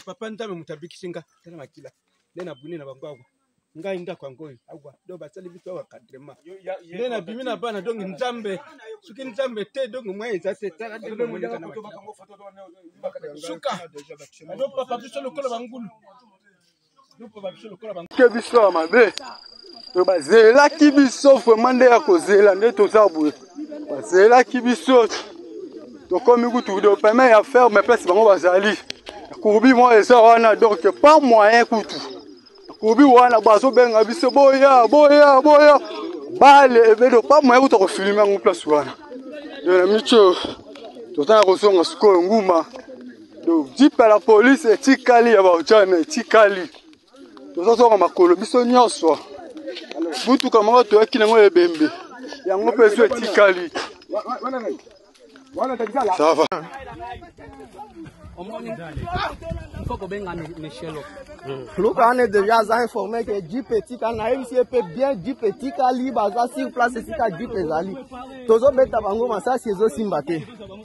papa nzambe moto abikisi nga tala makila nde na buni na bango awa ngai ndako yango oyo awa do basali biso awa kadrema nde na bimi na bana donk nzambe soki nzambe te donk mwa eza te tala suka ado papa biso lokola bangulu ke biso ya mabe to bazelaki biso vraimen nde ya kozela nde toza boye bazelaki biso tokomi kutu de peme ya ferme place bango bazali kurbi moko eza wana donc pas moyen kutu kurbi wana bazobenga biso boya boya boya bale ebedo pas moyen kutu akofilime yango place wana na mico toza na kozonga sikoyo nguma Donc jeep ya la police etikali ya baujana etikali, tozozonga makolo biso nyonso. Motuka moko toyaki nango ya ebembe yango mpe ezo etikali. Ça va. omoni faut kobenga michelo luka ane deja aza informe ke jeep etika nayebisi ye mpe bien jeep etikali baza sur place esika jeep ezali tozobeta bango masasi ezosimba te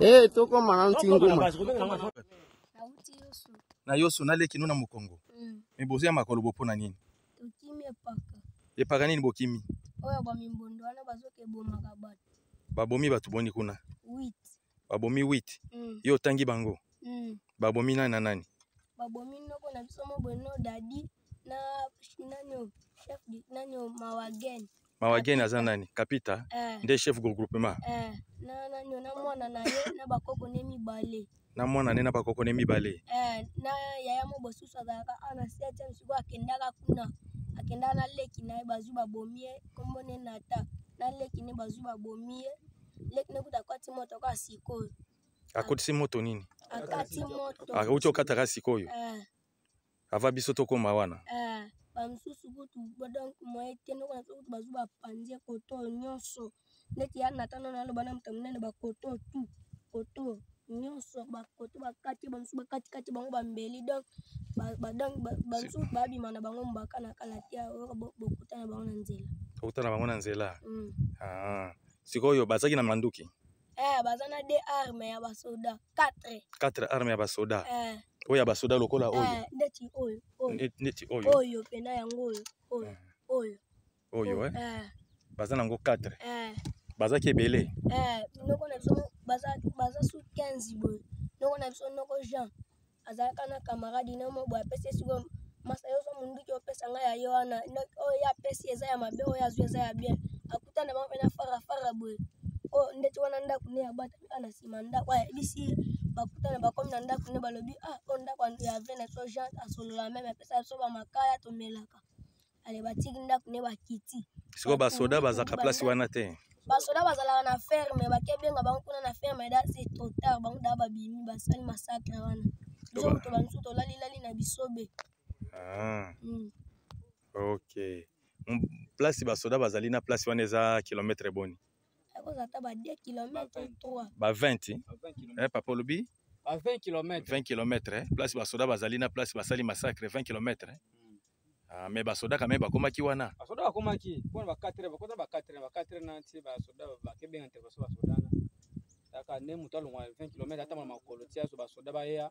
Eh, toko mana ntinguma. Na yosu na leki nuna mukongo. Mm. Mais bozo ya makolo bopo na nini? Tokimi epaka. Epaka nini bokimi? Oyo ba mimbondo wana bazo ke bomaka bato. Babomi bato boni kuna? Oui. babomi 8 mm. yo otangi bango mm. babomi nani na nani babomi noko na biso mo bono dadi na nanio chef nanio mawagen mawagen aza nani kapita eh. nde chef groupement eh. na nanio na mwana na ye na bakoko ne mibale na mwana ne na bakoko ne mibale eh. na yaya mo bosusu azalaka awa na septième sikoyo akendaka kuna akendaka na leki na ye bazwi babomi ye nkombo ne nata na leki ne bazwi babomi ye leki na kuta akwati moto kaka sikoyo akotisi moto nini akati moto akauti ah, okataka sikoyo eh. ava biso tokóma wana eh, bamosusu kutu donc moye te ndoko na biso kutu bazwi bapanzi koto nyonso neti ya natano naloba na moto monene bakoto tu koto nyonso bakoto bakati bamosusu bakatikati bango bambeli donc bamosusu babima na bango mbaka na kala te bokuta na bango na nzela bokuta na bango na nzela mm. ah. sikoyo bazalaki na manduki eh, baza na de arme ya basoda 4 4 arme ya basoda eh. oyo ya basoda lokola oyo eh, ndeti oyo ndeti oyo oyo pena yango oyo oyo eh. oyo oyo eh. eh. baza na yango 4 eh. bazaki ebele eh, noko na biso baza, baza su 15 boye noko na biso noko jean azalaka na kamaradi na mwa boye apesi esiko masa yo zwa monduki opesa ngai ya ye wana oyo ye apesi eza ya mabe oyo azwi eza ya bien akutana bango mpe na fara fara boye oyo oh, ndeti wana ndako ne ya bwata mpe na nsima ndako ayebisi ye bakutana bakomi na ndako ne balobi ah oyo oh, ndako ya vene to jean asolola meme apesa biso bamakaya tomelaka ale batiki ndako ne bakiti sikoyo basoda bazalaka place wana te basoda bazalaka na ferme bakebenga bango kuna na ferme da se trop tard bango da babimi basali masakre wana biso moto bamisu tolalilali na bisobe ah. mm. ok place basoda bazali na place wana eza kilometre boni ekozala ata ba 2 kilomètre 3 ba 20 eh, papa olobi ba 20 kilomètre 20 kilomètre eh, place basoda bazali na place basali massacre 20 kilomètre eh. hmm. Ah, mais basoda quand même bakomaki wana basoda bakomaki mpo na ba 4 heures bakota ba 4 heures ba 4 heures na nti basoda bakebenga intervention basoda na kaka nde moto alongwa 20 kilomètre ata mwa makolo ti azo basoda bayeya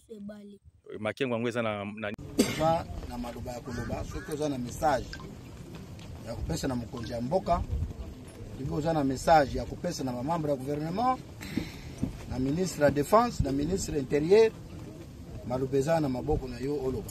biso ebale makengo yango eza na oza na maloba ya koloba soki oza na message ya kopesa na mokonzi ya mboka soki oza na message ya kopesa na bamembre ya gouvernement na ministre ya défense na ministre interieur maloba eza na maboko na yo oloba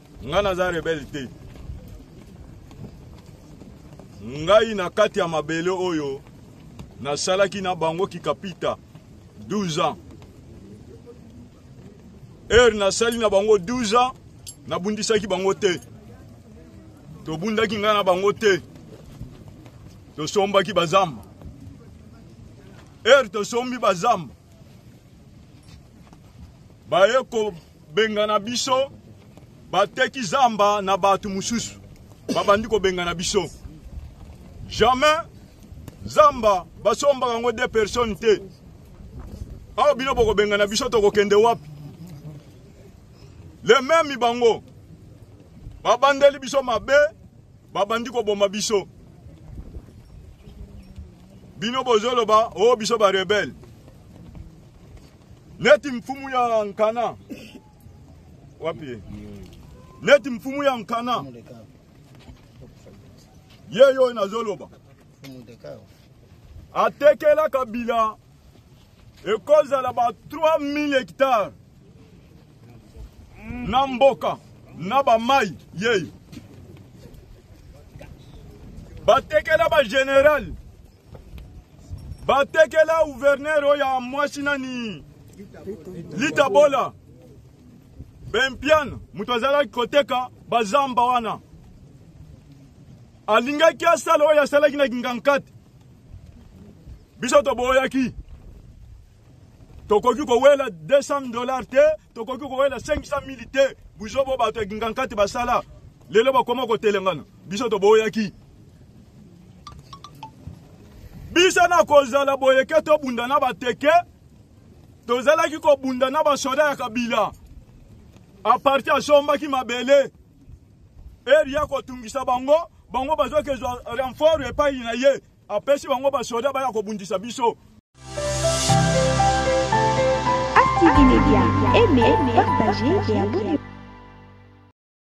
Nga naza rebelle te. Ngai na kati ya mabele oyo nasalaki na bango kikapita 12 ans. Heure nasali na bango 12 ans, nabundisaki bango te. Tobundaki ngai na bango te. Tosombaki bazamba. Heure tosombi bazamba. Baye ko bengana biso bateki zamba na bato mosusu babandi kobengana biso jamais zamba basombaka yango de personne te awa bino bokobengana biso tokokende wapi le meme bango babandeli biso mabe babandi koboma biso bino bozoloba o oh, biso barebele neti mfumu ya nkana wapi ye neti mfumu ya nkana ye oyo nazoloba atekela kabila ekozala ba 3000 hectare na mboka na bamai yei batekela bagenerale batekela guvernere oyo ya mwasi nani lita bola bempiane moto azalaki koteka bazamba wana alingaki asala oyo asalaki na kingankati biso toboyaki tokoki kowela 200 dollar te tokoki kokoya na 500 mili te buzo bo bato ya gingankati basala lelo bakoma kotelengana biso toboyaki biso na kozala boyeke tobunda na bateke tozalaki kobunda na basoda ya kabila aparti asombaki mabele eri ya kotungisa bango bango bazokezwa renfort epai na ye Apesi bango ba soda baya kobundisa biso. Active Media, aimez, partagez et abonnez.